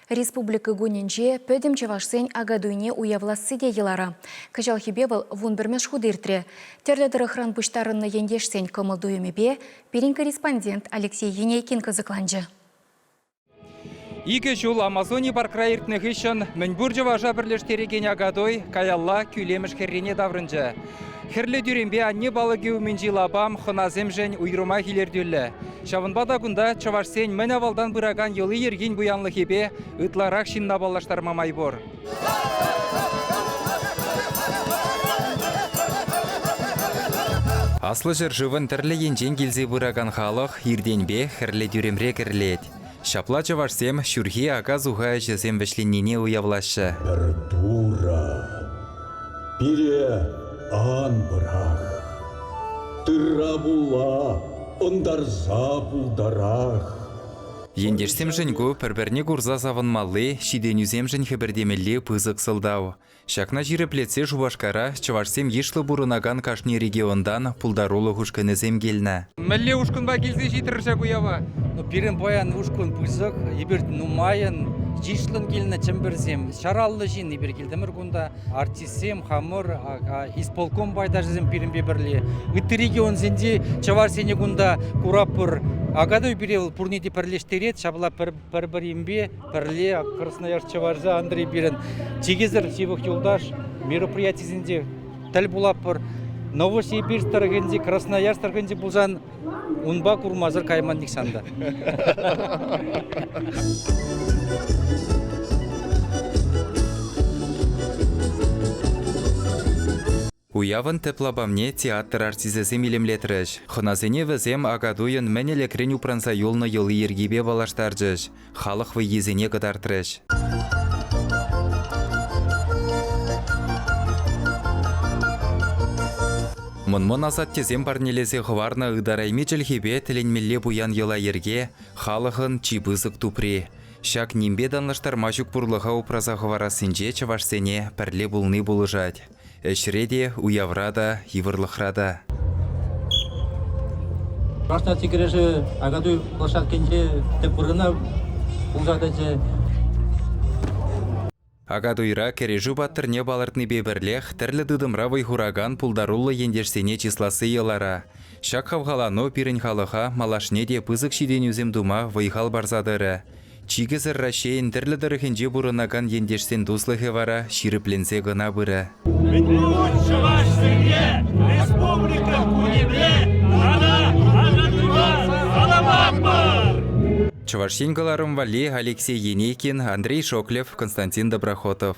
Республика кунӗнче пӗтӗм чӑвашсен Акатуйне уявласси те йӑлара. Кӑҫалхипе вӑл вун пӗрмӗш хут иртрӗ. Тӗрлӗ тӑрӑхран пуҫтарӑннӑ ентешсен кӑмӑл-туйӑмӗпе пирӗн корреспондент Алексей Енейкин кӑсӑкланчӗ. Икӗ ҫул Амазони паркра иртнӗ хыҫҫӑн мӗнпур чӑваша пӗрлештерекен Акатуй каялла Кӳлемӗш хӗррине таврӑнчӗ. Хӗрлӗ тӳремпе анне палӑкӗ умӗнчи лапам хӑнасемшӗн уйрӑмах илӗртӳллӗ. Ҫавӑнпа та кунта чӑвашсен мӗн авалтан пыракан йӑли-йӗркин пуянлӑхӗпе ытларах ҫынна паллаштарма май пур. Аслӑ ҫӗршывӑн тӗрлӗ енчен килсе пыракан халӑх иртенпе хӗрлӗ тӳремре кӗрлет. Ҫапла чӑвашсем ҫурхи ака-суха ӗҫӗсем вӗҫленнине уявлаҫҫӗ. Пӗр Турӑ пире ан пӑрах, тырра пулла ӑнтарса пултарах. Ентешсемшӗн ку пӗр-пӗрне курса савӑнмалли, ҫитӗнӳсемшӗн хӗпӗртемелли пысӑк сӑлтав. Ҫакна ҫирӗплетсе Шупашкара чӑвашсем йышлӑ пурӑнакан кашни регионтан пултарулӑх ушкӑнӗсем килнӗ. Мӗнле ушкӑнпа килсе ҫитрӗр ҫак уява? Ну, пирӗн паян ушкӑн пысӑк, эпир нумайӑн, йышлӑн килнӗ чӗмпӗрсем. Ҫараллӑ ҫын эпир килтӗмӗр кунта. Артистсем хамӑр, исполком пайташӗсем пирӗнпе пӗрле. Ытти регионсенчи чӑвашсене кунта куратпӑр. Акатуй пире вӑл пурне те пӗрлештерет, ҫапла пӗр пӗр-пӗринпе пӗрле Красноярск Чӑвашӗ Андрей пирӗн чикесӗр ҫывӑх юлташ мероприятисенче тӗл пулатпӑр. Новосибирь тӑрӑхӗнчи, Красноярск тӑрӑхӗнче пулсан унпа курмасӑр кайман нихҫан та. Уявӑн тӗп лапамне театр артисӗсем илемлетрӗҫ. Хӑнасене вӗсем Акатуйӑн мӗн ӗлӗкрен упранса юлнӑ йӑли-йӗркипе паллаштарчӗҫ, халӑх вӑййисене кӑтартрӗҫ. Мӑн-мӑн асаттесем парнелесе хӑварнӑ ытарайми чӗлхепе тӗлӗнмелле пуян йӑла-йӗрке, халӑхӑн чи пысӑк тупри. Ҫак нимпе танлаштарма ҫук пурлӑха упраса хӑварассинче чӑвашсене пӗрле пулни пулӑшать. Ӗҫре те, уявра та, йывӑрлӑхра та. Трансляци кӗрешӗ Акатуй площадкинче тӗп вырӑна пулса тӑчӗ. Акатуйра кӗрешӳ паттӑрне палӑртнипе пӗрлех тӗрлӗ тытӑмра вӑй хуракан пултаруллӑ ентешсене чысласси йӑлара. Ҫак хавхалану пирӗн халӑха малашне те пысӑк ҫитӗнӳсем тума вӑй-хал парса тӑрӗ. Чикӗсӗр Раҫҫейӗн тӗрлӗ тӑрӑхӗнче пурӑнакан ентешсен туслӑхӗ вара ҫирӗпленсе кӑна пырӗ. Мӗн пулать чӑвашсене республика ку епле тата асӑннӑ каламатпӑр! Чӑваш Ен кӑларӑм валли Алексей Енейкин, Андрей Шоклев, Константин Доброхотов.